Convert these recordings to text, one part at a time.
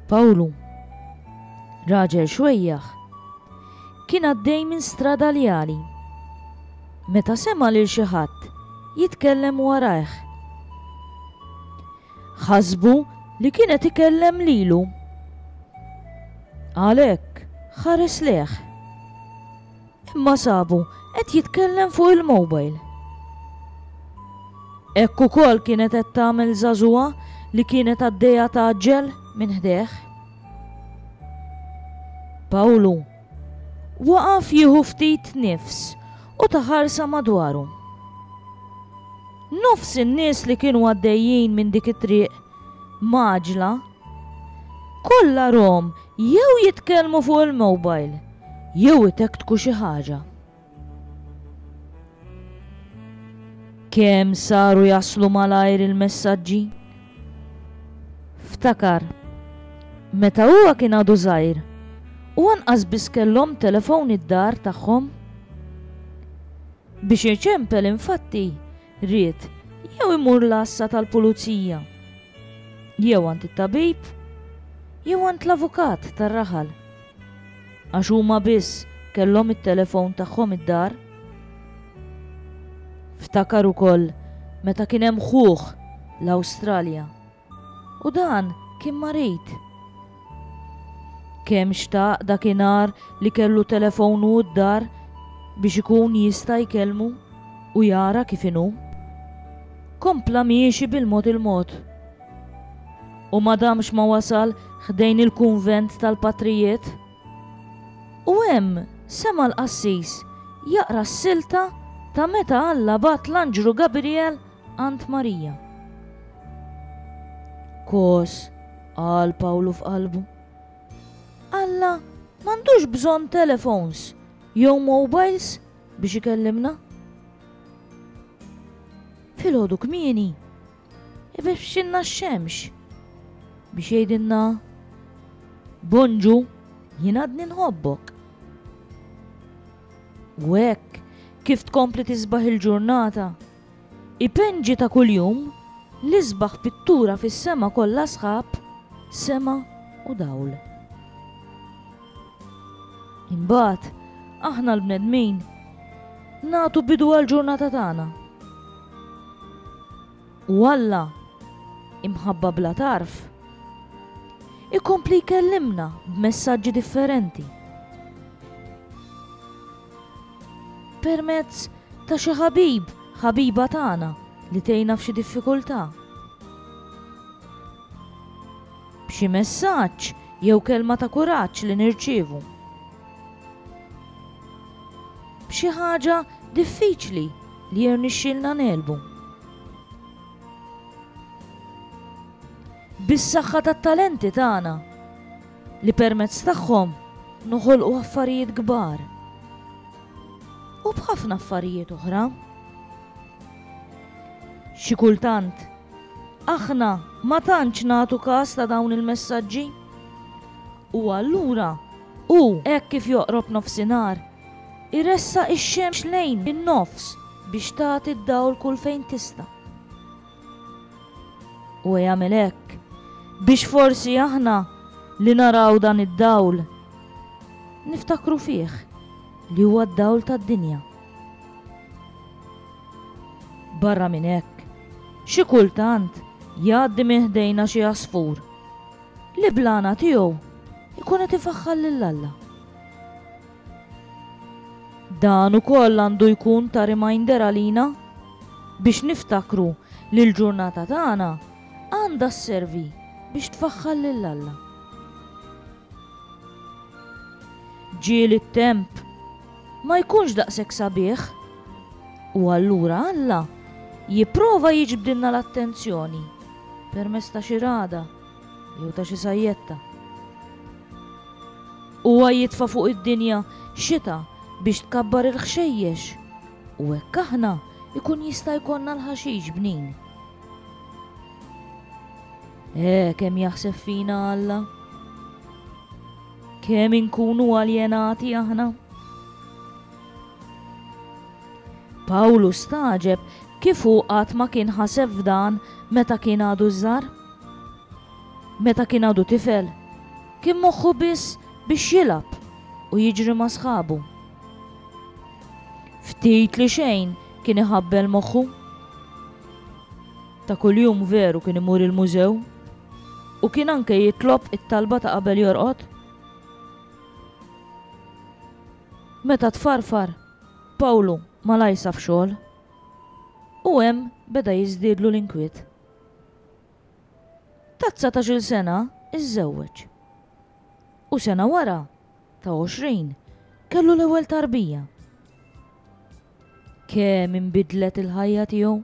Pawlu, raġel xwejjaħ, kien għaddej minn strada li għali. Meta sema lil xi ħadd jitkellem warajh. ħasbu li kien qed ikellem lilu. Għalhekk ħares lejh. Imma sabu qed jitkellem fuq il-mobile. Hekk ukoll kienet qed tagħmel żagħżugħa li kienet għaddejja tgħaġġel minn ħdejh. Pawlu Waqaf jieħu ftit nifs u ta ħarsa madwaru. Nofs in-nies li kienu għaddejjin minn dik it-triq mgħaġġla kollha rhom jew jitkellmu fuq il-mobile jew itektku xi ħaġa. Kemm saru jaslu malajr il-messaġġi? Ftakar, meta huwa kien għadu żgħir u anqas biss kellhom telefon id-dar tagħhom. Biex iċempel infatti, ried, jew imur l-għassa tal-pulizija, jew għand it-tabib, jew għand l-avukat tar-raħal. Għax huma biss kellhom it-telefon tagħhom id-dar. Ftakar ukoll meta kien hemm ħuh l-Awstralja. U dan kien marid. Kemm xtaq dakinhar li kellu telefonu d-dar biex ikun jista' jkellmu u jara kif inhu. Kompla miexi bil-mod il-mod. U ma damx ma wasal ħdejn il-kunvent tal-patrijiet. U hemm sema' l-qassis jaqra s-silta ta' meta Alla bagħat l-anġlu Gabriel Ant Marija. Kos, qal Pawlu f'qalbu. Alla m'għandux bżonn telefons jew mobiles biex ikellimna. Filgħodu kmieni, ibexxinna x-xemx biex jgħidilna Bonġu, jien għadni nħobbok. U hekk kif tkompli tisbaħ il-ġurnata Ipenġi ta' kuljum, l-isbaħ pittura fis-sema kollha sħab, sema u dawl. Imbagħad, aħna l-bnedmin nagħtu bidu għall-ġurnata tagħna. U Alla, imħabba bla tarf, ikompli jkellimna b'messaġġi differenti. Permezz ta' xi ħabib, ħabiba tagħna li tgħinna f'xi diffikultà. B'xi messaġġ jew kelma ta' kuraġġ li nirċievu. B'xi ħaġa diffiċli li jirnixxilna ngħelbu. Bis-saħħa tat-talenti tagħna. li permezz tagħhom noħolqu affarijiet kbar u b'ħafna affarijiet oħra. Xi kultant, aħna ma tantx nagħtu każ ta' dawn il-messaġġi. U allura u hekk kif joqrob nofsinhar, iressa ix-xemx lejn in-nofs biex tagħti d-dawl kull fejn tista'. Huwa jagħmel hekk biex forsi aħna li naraw dan id-dawl niftakru fih li huwa d-dawl tad-dinja. Barra minn hekk, xi kultant jgħaddi minn ħdejna xi għasfur li bl-għana tiegħu jkun qed ifaħħar lil Alla. Dan ukoll għandu jkun ta' reminder għalina biex niftakru li l-ġurnata tagħna għandha sservi biex tfaħħar lil Alla. Ġieli t-temp ma jkunx daqshekk sabiħ u allura Alla jipprova jiġbdilna l-attenzjoni permezz ta' xi ragħda jew ta' xi sajjetta. Huwa jitfa' fuq id-dinja xita biex tkabbar il-ħxejjex u hekk aħna ikun jista' jkollna l-ħaxix bnin. Eh, kemm jaħseb fina Alla? Kemm inkunu aljenati aħna? Pawlu staġeb kif hu qatt ma kien ħaseb f'dan meta kien għadu żar. Meta kien għadu tifel, kien moħħu biss biex jilgħab u jiġri ma' sħabu. Ftit li xejn kien iħabbel moħħu. Ta' kuljum veru kien imur il-mużew u kien anke jitlob it-talba ta' qabel jorqod. Meta tfarfar, Pawlu malajr saf xogħol u hemm beda jiżdiedlu l-inkwiet. Ta' dsatax-il sena iżżewweġ u sena wara, ta' għoxrin, kellu l-ewwel tarbija. Kemm inbidlet il-ħajja tiegħu!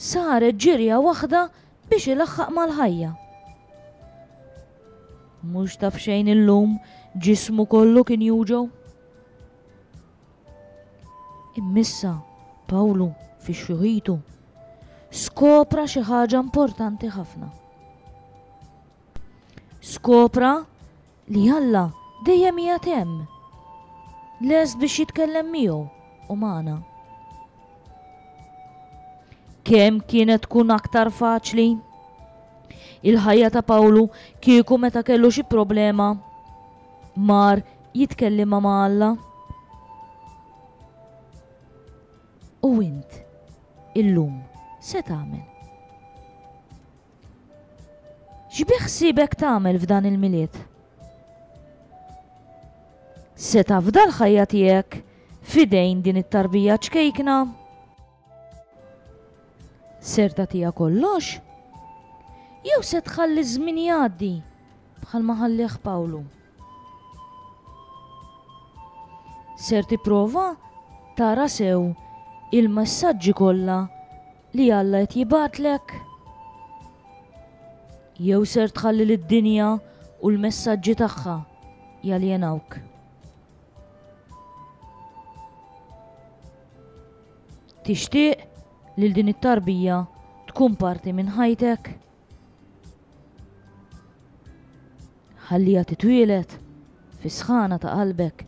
Saret ġirja waħda biex ilaħħaq mal-ħajja. Mhux taf xejn illum ġismu kollu kien juġgħu. Immissa, Pawlu, fi xjuħitu, skopra xi ħaġa importanti ħafna. Skopra li Alla dejjem hija temm. Lest biex jitkellem miegħu u magħna. Kemm kienet tkun aktar faċli? Il-ħajja ta' Pawlu kieku meta kellu xi problema Mar jitkellimha ma' Alla. U int illum se tagħmel? X'biħsiebek tagħmel f'dan il-Milied? Se tafda l-ħajja tiegħek f'idejn din it-tarbija ċkejkna? Ser tagħtiha kollox? Jew se tħalli ż-żmien jgħaddi bħalma ħallih Pawlu? Ser tipprova tara sew il-messaġġi kollha li Alla qed jibgħatlek? Jew ser tħalli lid-dinja u l-messaġġi tagħha jaljenawk? Tixtieq li din it-tarbija tkun parti minn ħajtek? Ħalliha titwieled fis-sħana ta' qalbek.